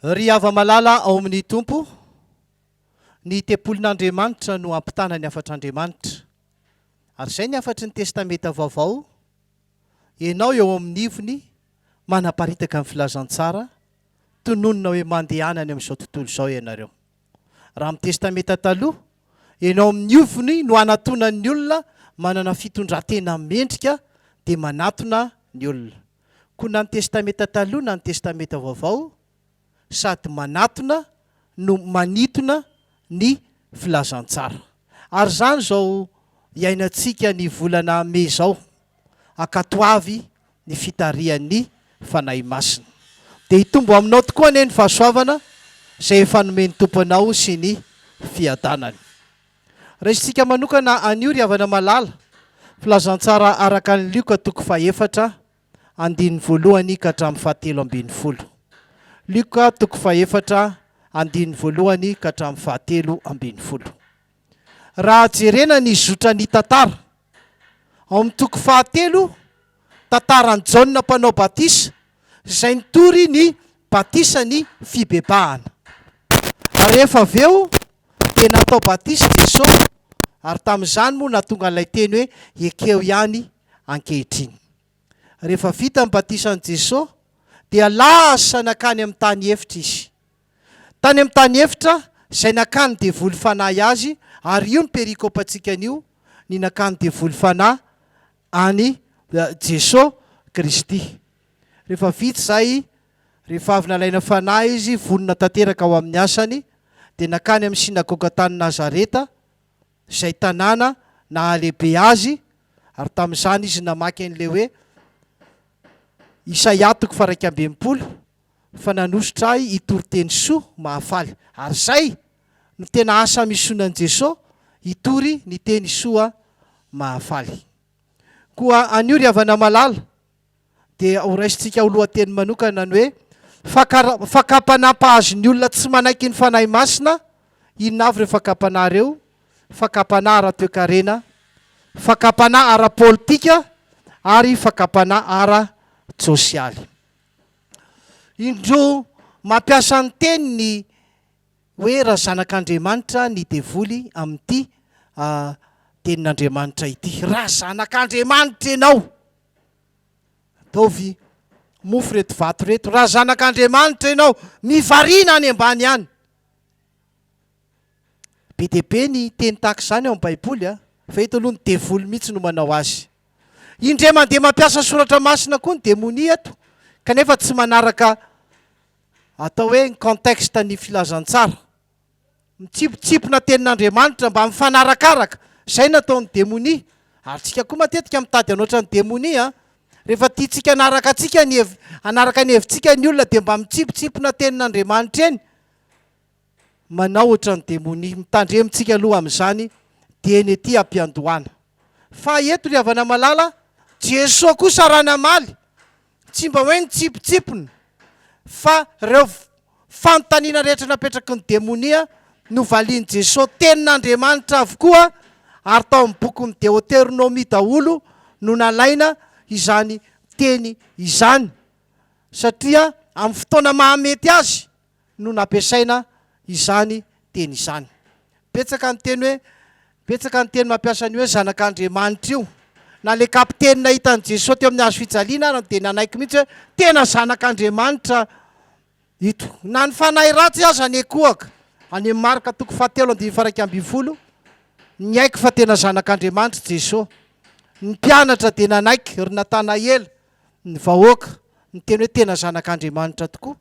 Ry hava-malala ao amin' ny Tompo, ny tempolin' Andriamanitra no hampitana ny hafatr' Andriamanitra. Ary izay ny hafatry ny Testamenta Vaovao, ianao eo amin' ny ivony, manaparitaka ny filazantsara, tononina hoe mandehana any amin' izao tontolo izao ianareo. Raha amin'ny Testamenta Taloha, enao amin'ny ofony no anatonan'ny olona manana fitondran-tena mendrika dia manatona ny olona. Koa na ny Testamenta Taloha na ny Testamenta Vaovao, sady manatona no manitona ny filazantsara. Ary izany izao iainantsika ny volana Mai izao, ankatoavy ny fitarihan'ny Fanahy Masina. Dia hitombo aminao tokoa anie ny fahasoavana izay efa nomen'ny Tompo anao sy ny fiadanany. Raisintsika manokana anio ry havana malala, Filazantsara araka an'i Lioka toko fahefatra, andininy voalohany ka hatramin'ny fahatelo ambin'ny folo. Lioka toko fahefatra, andininy voalohany ka hatramin'ny fahatelo ambin'ny folo. Raha jerena ny zotran'ny tantara, ao amin'ny toko fahatelo, tantaran'i Jaona Mpanao Batisa izay nitory ny batisan'ny fibebahana. Ary rehefa avy eo dia natao batisa i Jesosy, ary tamin'izany moa nahatonga an'ilay teny hoe ekeo ihany ankehitriny. Rehefa vita ny batisan'i Jesosy dia lasa nakany amin'ny tany efitra izy. Tany amin'ny tany efitra izay nakan'ny devoly fanahy azy, ary io ny perikopantsika anio, ny nakan'ny devoly fanahy an'i Jesoa Kristy. Rehefa vita izay, rehefa avy nalaina fanahy Izy, vonona tanteraka ho amin'ny asany, dia nankany amin'ny synagoga tany Nazareta, izay tanàna nahalehibe Azy, ary tamin'izany Izy namaky an'ilay hoe Isaia toko faha-iraika amby enimpolo, fa nanosotra ahy hitory teny soa mahafaly ary izay no tena asa misionan'i Jeso hitory ny teny soa mahafaly. Koa anio ry havana malala dia ho raisintsika ho lohateny manokana ny hoe fakam-panahy mpahazo ny olona tsy manaiky ny Fanahy Masina, inona avy ireo fakam-panahy ireo? Fakam-panahy ara-toekarena, fakam-panahy ara-politika ary fakam-panahy ara-tsosialy. Indro mampiasa ny teniny hoe razanak'Andriamanitra ny devoly amin'ity tenin'Andriamanitra ity. Razanak'Andriamanitra ianao! Ataovy mofo ireto vato ireto. Razanak'Andriamanitra ianao! Mivarina any ambany any! Be dia be ny teny tahaka izany ao amin'ny Baiboly, fa eto aloha ny devoly mihitsy no manao azy. Indray mandeha mampiasa soratra masina koa ny demonia eto, kanefa tsy manaraka atao hoe ny contexte ny filazantsara. Mitsipotsipona tenin'Andriamanitra mba mifanarakaraka, izay no ataon'ny demonia. Ary isika koa matetika mitady hanoatra ny demonia, rehefa tiantsika hanaraka antsika ny hev hanaraka ny hevitsika ny olona dia mba mitsipotsipona tenin'Andriamanitra eny. Manaohitra ny demonia. Mitandremintsika aloha amin'izany dieny ety am-piandohana. Fa eto ry havana malala, Jesoa kosa raha namaly, tsy mba hoe nitsipitsipona, fa ireo fanontaniana rehetra napetraky ny demonia no valian'i Jesoa tenin'Andriamanitra avokoa, ary tao amin'ny bokin'ny Deoteronomia daholo no nalaina izany teny izany, satria amin'ny fotoana mahamety azy. no nampiasaina izany teny izany. Betsaka ny teny hoe, betsaka ny teny mampiasa ny hoe zanak'Andriamanitra io. Na ilay kapiteny nahita an'i Jesoa teo amin'ny hazo fijaliana ary dia nanaiky mihitsy hoe, tena zanak'Andriamanitra ito. Na ny fanahy ratsy aza nekoaka, any amin'ny Marka toko fahatelo andininy faharaika ambin'ny folo, niaiky fa tena zanak'Andriamanitra i Jesoa. Ny mpianatra dia nanaiky, ry Natanaela, ny vahoaka, niteny hoe tena zanak'Andriamanitra tokoa.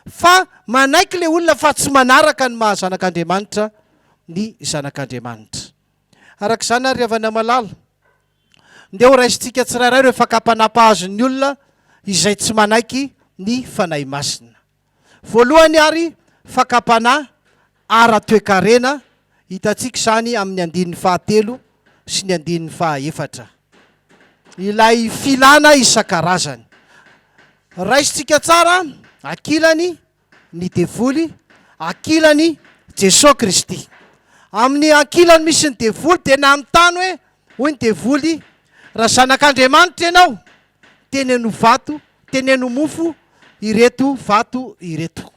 Fa manaiky ilay olona fa tsy manaraka ny maha-zanak'Andriamanitra ny Zanak'Andriamanitra. Araka izany àry ry havana malala, ndeha horaisintsika tsirairay ireo fakam-panahy mpahazo ny olona izay tsy manaiky ny Fanahy Masina. Voalohany àry, fakam-panahy ara-toekarena, hitantsika izany amin'ny andininy fahatelo sy ny andininy fahaefatra. Ilay filana isan-karazany. Raisintsika tsara ankilany ny devoly, ankilany Jesoa Kristy. Amin'ny ankilany misy ny devoly dia nanontany hoe, hoy ny devoly, Raha zanak'Andriamanitra ianao, teneno vato, teneno mofo ireto vato ireto.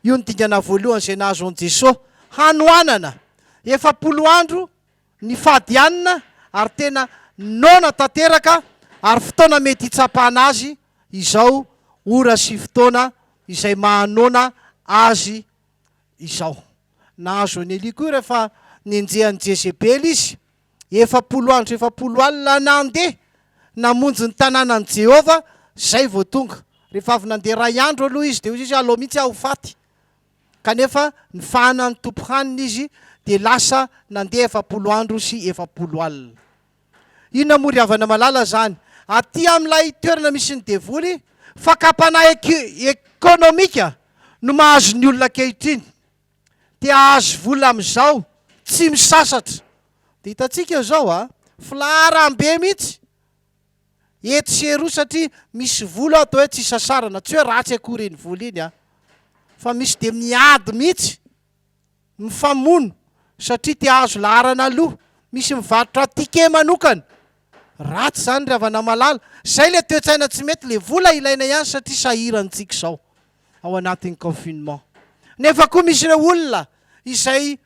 Io no dingana voalohany izay nahazo an'i Jesoa. Hanoanana! Efapolo andro nifadianina ary tena noana tanteraka ary fotoana mety hitsapana Azy izao, ora sy fotoana izay mahanoana Azy izao. Nahazo an'i Elia koa rehefa nenjehan'i Jezebela Izy. Efapolo andro sy efapolo alina nandeha namonjy ny tanànan'i Jehovah, izay vao tonga. Rehefa avy nandeha iray andro aloha izy, dia hoy izy, Aleo mihitsy aho ho faty! Kanefa nifahana ny Tompo hanina izy, dia lasa nandeha efapolo andro sy efapolo alina. Inona moa ry havana malala izany? Atỳ amin'ilay toerana misy ny Devoly, fakam-panahy ekonomika no mahazo ny olona ankehitriny. Te ahazo vola amizao tsy misasatra. De hitantsika eo zao a, filaharam be mihitsy etsy sy eroa satria misy vola ao atao hoe tsy isasarana, tsy hoe ratsy akory iny vola iny a, fa misy de miady mihitsy, mifamono satria te ahazo laharana aloha, misy mivarotra ticket manokana, ratsy zany ry havana malala, zay le toetsaina tsy mety, le vola ilaina ihany satria sahirantsika izao. ao anatin'ny confinement. Nefa koa misy ireo olona izay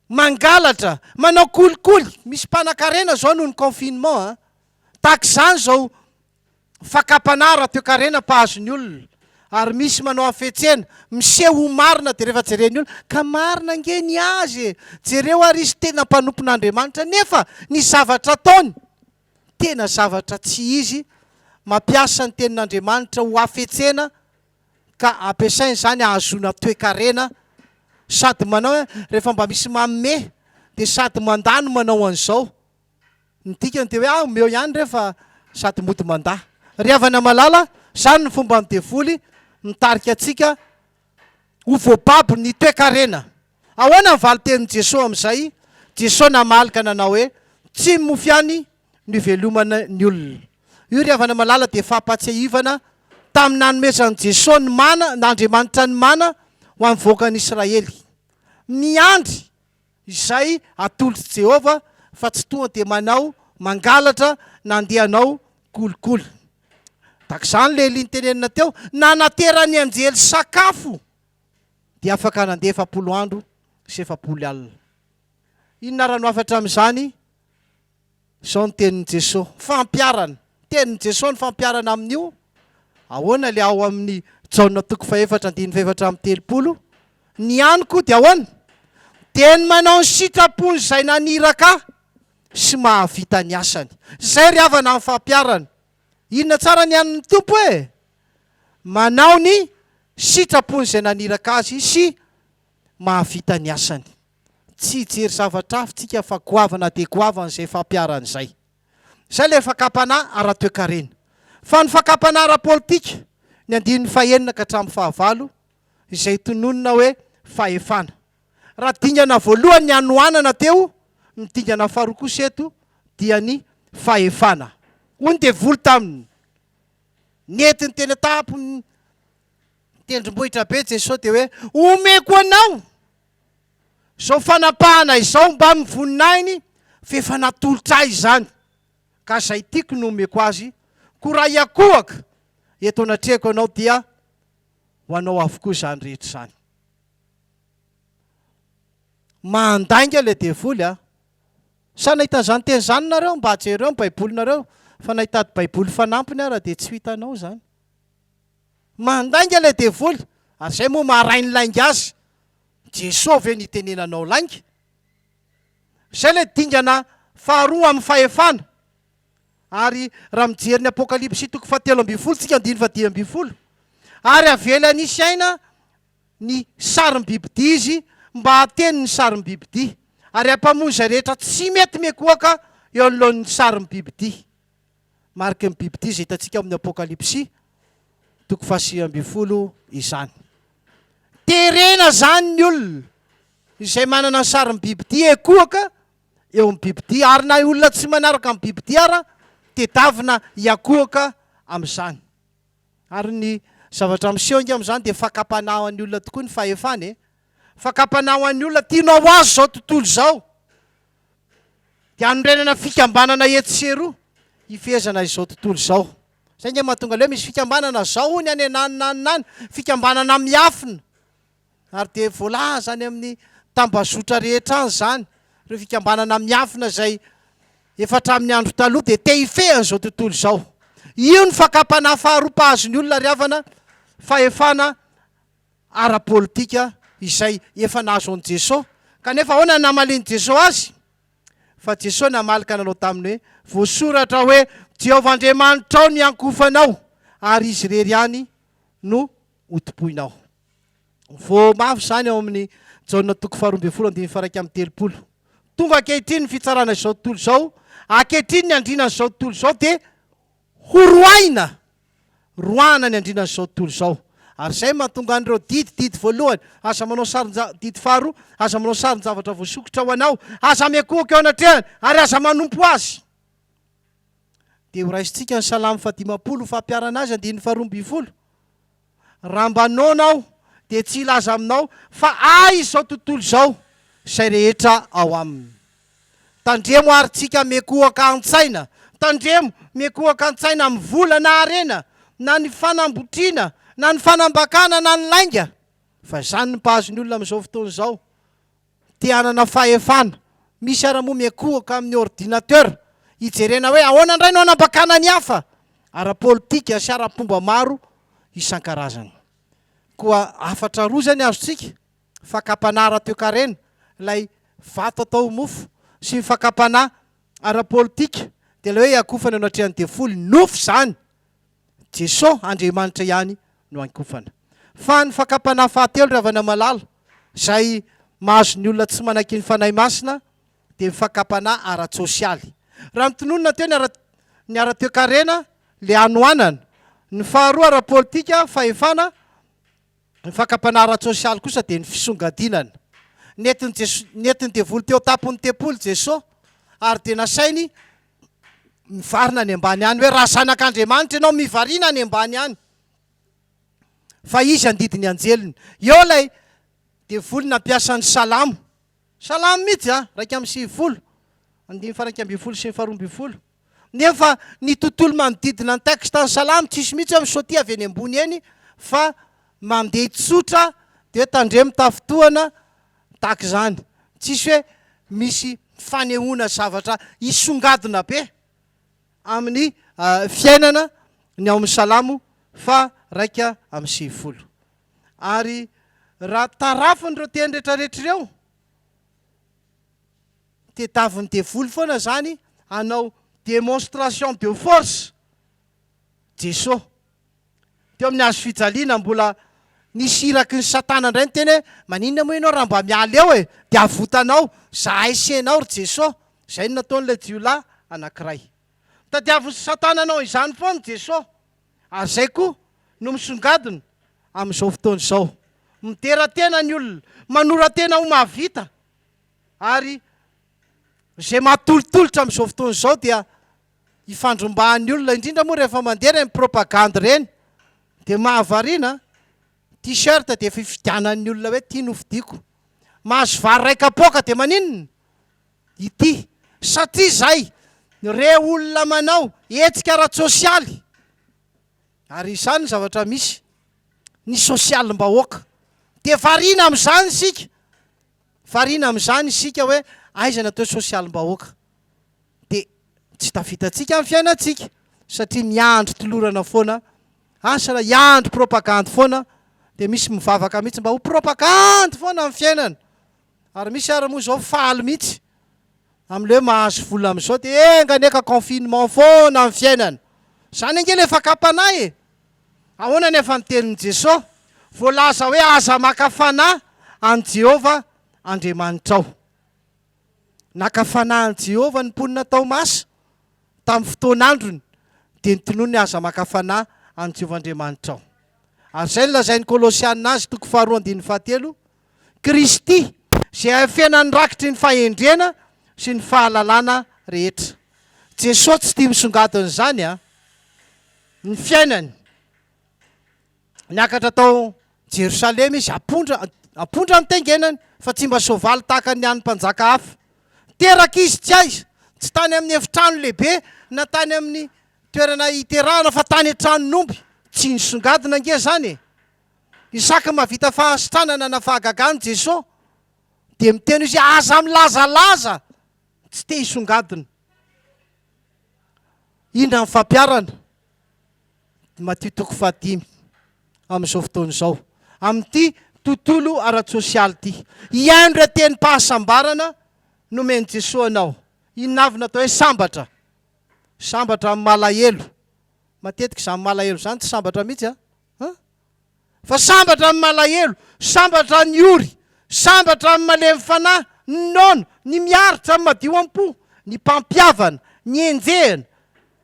mangalatra, manao kolikoly, misy mpanakarena zao noho ny confinement a. Tahaka izany zao fakam-panahy raha toekarena mpahazo ny olona ary misy manao hafetsena, miseho ho marina dia rehefa jeren'ny olona, ka marina ange ny azy e, jereo ary izy tena mpanompon'Andriamanitra, nefa ny zavatra ataony. tena zavatra tsy izy, mampiasa ny Tenin'Andriamanitra ho hafetsena ka ampiasaina izany hahazoana toekarena, sady manao hoe rehefa mba misy manome dia sady mandà no manao an'izao, ny dikany dia hoe ah omeo ihany re fa sady mody mandà. Ry havana malala, izany ny fomban'ny devoly mitarika antsika. Ho voababo ny toekarena. Ahoana ny valintenin'i Jesoa amin'izay? Jesoa namaly ka nanao hoe, Tsy mofy ihany no ivelomana ny olona. Io ry havana malala dia fampahatsiahivana tamin'ny nanomezan'i Jesoa ny mana, n'Andriamanitra ny mana ho an'ny vahoakan'Israely. Miandry. izay atolotr'i Jehovah fa tsy tonga dia manao mangalatra na andeha hanao kolikoly. Tahaka izany ilay Elia nitenenina teo, nanateran'ny anjely sakafo dia afaka nandeha efapolo andro sy efapolo alina. Inona ary no hafa hatramin'izany? Izao ny tenin'i Jesoa, fampiharana. Tenin'i Jesoa ny fampiharana amin'io, ahoana ilay ao amin'ny Jaona toko fahefatra andininy fahefatra amby telopolo, Ny any koa dia ahoana? Dia ny manao ny sitrapon'izay naniraka Ahy sy mahavita ny asany. Izay ry havana ny fampiharana. Inona tsara ny an'ny Tompo e? Manao ny sitrapon'izay naniraka Azy sy mahavita ny asany. Tsy hijery zavatra hafa tsika fa goavana dia goavana izay fampiharan'izay. Izay ilay fakam-panahy ara-toekarena. Fa ny fakam-panahy ara-politika, ny andininy fahenina ka hatramin'ny fahavalo, izay tononina hoe fahefana. Raha dingana voalohany ny hanoanana teo, ny dingana faharoa kosa eto dia ny fahefana. Hoy ny devoly taminy, Nentiny teny an-tampon'ny tendrombohitra be Jesosy dia hoe, Omeko anao! Izao fanapahana izao mba ny voninahiny f'efa natolotra ahy izany ka izay tiako no omeko azy koa raha hiakohaka eto anatrehako ianao dia ho anao avokoa izany rehetra izany. Mandainga ilay devoly a! Sa nahita an'izany teny izany nareo? Mba jereo ny baibolinareo fa nahitady baiboly fanampiny ara dia tsy ho hitanao izany. Mandainga ilay devoly ary izay moa maharay ny lainga azy. Jesoa ve no itenenanao lainga? Izay ilay dingana faharoa amin'ny fahefana. Ary raha mijery ny Apokalypsy toko fahatelo ambin'ny folo tsika andininy fahadimy ambin'ny folo, ary avela nisy aina ny sarim-bibidia izy mba hateny ny sarim-bibidia, ary hampamoy izay rehetra tsy mety mikohaka eo anoloan'ny sarim-bibidia. mariky ny bibidia izay hitantsika ao amin'ny Apokalypsy toko fahasivy ambin'ny folo izany. Terena izany ny olona izay manana ny sarin'ny bibidia ekohaka eo amin'ny bibidia, ary na olona tsy manaraka amin'ny bibidia ara tedavina hiakohaka amin'izany. Ary ny zavatra miseho inga amin'izany dia fakam-panahy ho an'ny olona tokoa ny fahefana e. Fakam-panahy ho an'ny olona tianao ho azy izao tontolo izao. dia hanorenana fikambanana etsy sy eroa hifehezana izao tontolo izao. Izay nge mahatonga leo misy fikambanana zao hony any anany na anany, fikambanana miafina. Ary dia voalaza any amin'ny tambazotra rehetra any izany, ireo fikambanana miafina izay efa hatramin'ny andro taloha dia te hifehy an'izao tontolo izao. Io ny fakam-panahy faharoa mpahazo ny olona ry havana, fahefana ara-politika izay efa nahazo an'i Jesoa. Kanefa ahoana no namalian'i Jesoa azy? Fa Jesoa namaly ka nanao taminy hoe, Voasoratra hoe, Jehovah Andriamanitrao no hiankofanao, ary Izy irery ihany no hotompoinao. Voa mafy izany ao amin'ny Jaona toko faharoa ambin'ny folo andininy faha-iraika amby telopolo. Tonga ankehitriny ny fitsarana izao tontolo izao, ankehitriny ny andrinan'izao tontolo izao dia Ho roahina, roahana ny andriana izao tontolo izao. Ary izay mahatonga an'ireo didy, didy voalohany, aza manao sarin-ja, didy faharoa, aza manao sarin-javatra voasokitra ho anao, aza miankohoka eo anatrehany, ary aza manompo azy. Dia horaisintsika ny Salamo fahadimampolo ho fampiharana azy, andininy faharoa ambin'ny folo. Raha mba noana aho dia tsy hilaza aminao fa ahy izao tontolo izao izay rehetra ao aminy. Tandremo ary tsika miekohoka an-tsaina, tandremo miekohoka an-tsaina amin'ny vola na harena na ny fanambotriana na ny fanambakana na ny lainga, fa izany no mpahazo ny olona amin'izao fotoana izao. Te hanana fahefana. Misy ary moa miankohoka amin'ny ordinateur hijerena hoe ahoana indray no hanambakana ny hafa, ara-politika sy ara-pomba maro isan-karazany. Koa hafatra roa izay ny azontsika, fakam-panahy ara-toekarena, ilay vato atao ho mofo, sy ny fakam-panahy ara-politika, dia ilay hoe hiakofana eo anatrehan'ny devoly, nofo izany! Jesosy Andriamanitra ihany no ankofana. Fa ny fakam-panahy fahatelo Ravanamalala, izay mahazo ny olona tsy manaiky ny Fanahy Masina, dia ny fakam-panahy ara-tsosialy. Raha notononina teo ny ara, ny ara-toekarena, ilay hanoanana. Ny faharoa ara-politika, fahefana, Ny fakam-panahy ara-tsosialy kosa dia ny fisongadinana. Nentin'i Jeso, nentin'ny devoly teo an-tampon'ny tempoly Jeso, ary dia nasainy nivarina any ambany any hoe, Raha Zanak'Andriamanitra ianao, mivarina any ambany any, fa Izy handidy ny anjeliny. Eo ilay devoly nampiasa ny Salamo, Salamo mihitsy an, iraika amby sivifolo, andininy faha iraika ambin'ny folo sy ny faha roa ambin'ny folo. Nefa ny tontolo manodidina ny texte ny salamo tsisy mihitsy hoe misaotia avy eny ambony eny fa mandeha tsotra dia tandremo tafintohana tahaka izany. Tsisy hoe misy fanehoana zavatra hisongadina be amin'ny fiainana ny ao amin'ny salamo faharaika amby sivifolo. Ary raha tarafin'ireo teny rehetra rehetra ireo, tedaviny devoly foana zany hanao demonstration de force Jeso teo amin'ny hazo fijaliana mbola nisy iraky ny satana ndray niteny hoe maninona moa ianao raha mba miala eo e de avotanao zahay sy enao ry Jeso zay no nataon'ilay jiolahy anakiray Tadiavin'i Satana hanao izany foana i Jesoa, ary izay koa no misongadina amin'izao fotoana izao. Midera tena ny olona, manora-tena ho mahavita, ary izay mahatolotolotra amin'izao fotoana izao dia ifandrombahan'ny olona, indrindra moa rehefa mandeha ireny propagandy ireny, dia mahavariana, t-shirt dia efa ifidianan'ny olona hoe ity nofidiako. Mahazo vary iray kapoaka dia maninona? ity satria izay re olona manao hetsika ara-tsosialy ary izany ny zavatra misy ny sosialim-bahoaka dia variana amin'izany isika variana amin'izany isika hoe aiza ny atao sosialim-bahoaka dia tsy tafitantsika amin'ny fiainantsika satria miandry tolorana foana asa raha hiandry propagandy foana dia misy mivavaka mihitsy mba ho propagandy foana amin'ny fiainana Ary misy ary moa zao faly mihitsy amin'ilay hoe mahazo vola amin'izao dia enga anie ka confinement foana ny fiainana. Izany ange ilay fakam-panahy e! Ahoana anefa ny tenin'i Jesoa? Voalaza hoe aza maka fanahy an'i Jehovah Andriamanitrao. Naka fanahy an'i Jehovah ny mponina tao Masa tamin'ny fotoan'androny dia notonony hoe aza maka fanahy an'i Jehovah Andriamanitrao. Ary izay no lazain'ny Kolosiana azy, toko faharoa andininy fahatelo, Kristy, izay ahafena ny rakitry ny fahendrena sy ny fahalalana rehetra. Jesoa tsy tia misongadina izany an! Ny fiainany, Niakatra tao Jerosalema izy, ampondra, ampondra no tengenany, fa tsy mba soavaly tahaka ny an'ny mpanjaka hafa. Teraka izy tsy aiza, tsy tany amin'ny efitrano lehibe na tany amin'ny toerana iterahana fa tany an-tranon'omby. Tsy nisongadina ange izany e! Isaky ny mahavita fahasitranana na fahagagana Jeso dia miteny Izy hoe aza milazalaza tsy te hisongadina. Indra ny fampiarana, Matio toko fahadimy, amin'izao fotoana izao, amin'ity tontolo ara-tsosialy ity. Hihaino ireo tenim-pahasambarana nomen'i Jeso anao. Inona avy no atao hoe sambatra? Sambatra amin'ny malahelo. Matetika izany malahelo izany tsy sambatra mihitsy an. A! Fa sambatra ny malahelo, sambatra ny ory, sambatra ny malemy fanahy, ny noana, ny miaritra, ny madio am-po, ny mpampihavana, ny enjehina,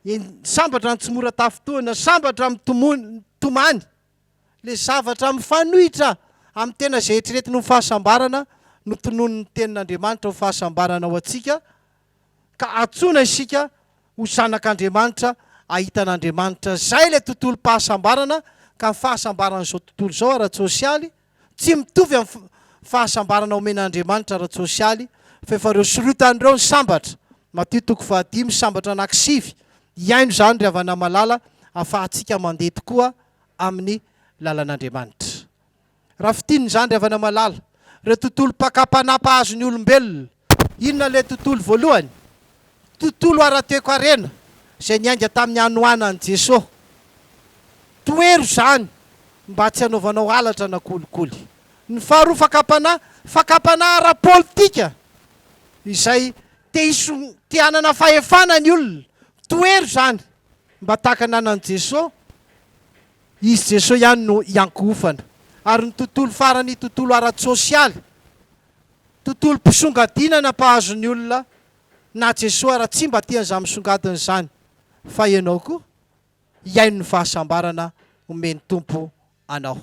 en, sambatra ny tsy mora tafintohina, sambatra ny mitomoan, mitomany. Ilay zavatra mifanohitra amin'ny tena izay eritreretiny ho fahasambarana no tononin'ny Tenin'Andriamanitra ho fahasambarana ho antsika, ka antsoina isika ho zanak'Andriamanitra ahita an'Andriamanitra. Izay ilay tontolom-pahasambarana, ka ny fahasambaran'izao tontolo izao ara-tsosialy tsy mitovy amin'ny fahasambarana omen'Andriamanitra ara-tsosialy, fa efa ireo sorotany ireo ny sambatra, Matio toko fahadimy sambatra anaky sivy, hihaino izany ry havana malala afahantsika mandeha tokoa amin'ny lalan'Andriamanitra. Rafitin'ny zandry avy any Malala, ireo tontolo pakapana mpahazo ny olombelona. Inona ilay tontolo voalohany? Tontolo ara-toekarena izay niainga tamin'ny hanoanan'i Jesoa. Tohero izany mba tsy hanaovanao halatra na kolikoly. Ny faharoa fakam-panahy, fakam-panahy ara-politika izay te hiso- te hanana fahefana ny olona. Tohero izany mba tahaka ny anan'i Jesoa. Izy Jeso ihany no iankohofana. Ary ny tontolo farany tontolo ara-tsosialy, tontolom-pisongadinana mpahazo ny olona na Jeso ara tsy mba tiany izany misongadina izany fa ianao koa hihaino ny fahasambarana omen'ny Tompo anao.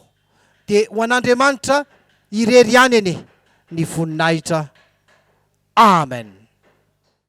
Dia ho an'Andriamanitra irery ihany anie ny voninahitra. Amen.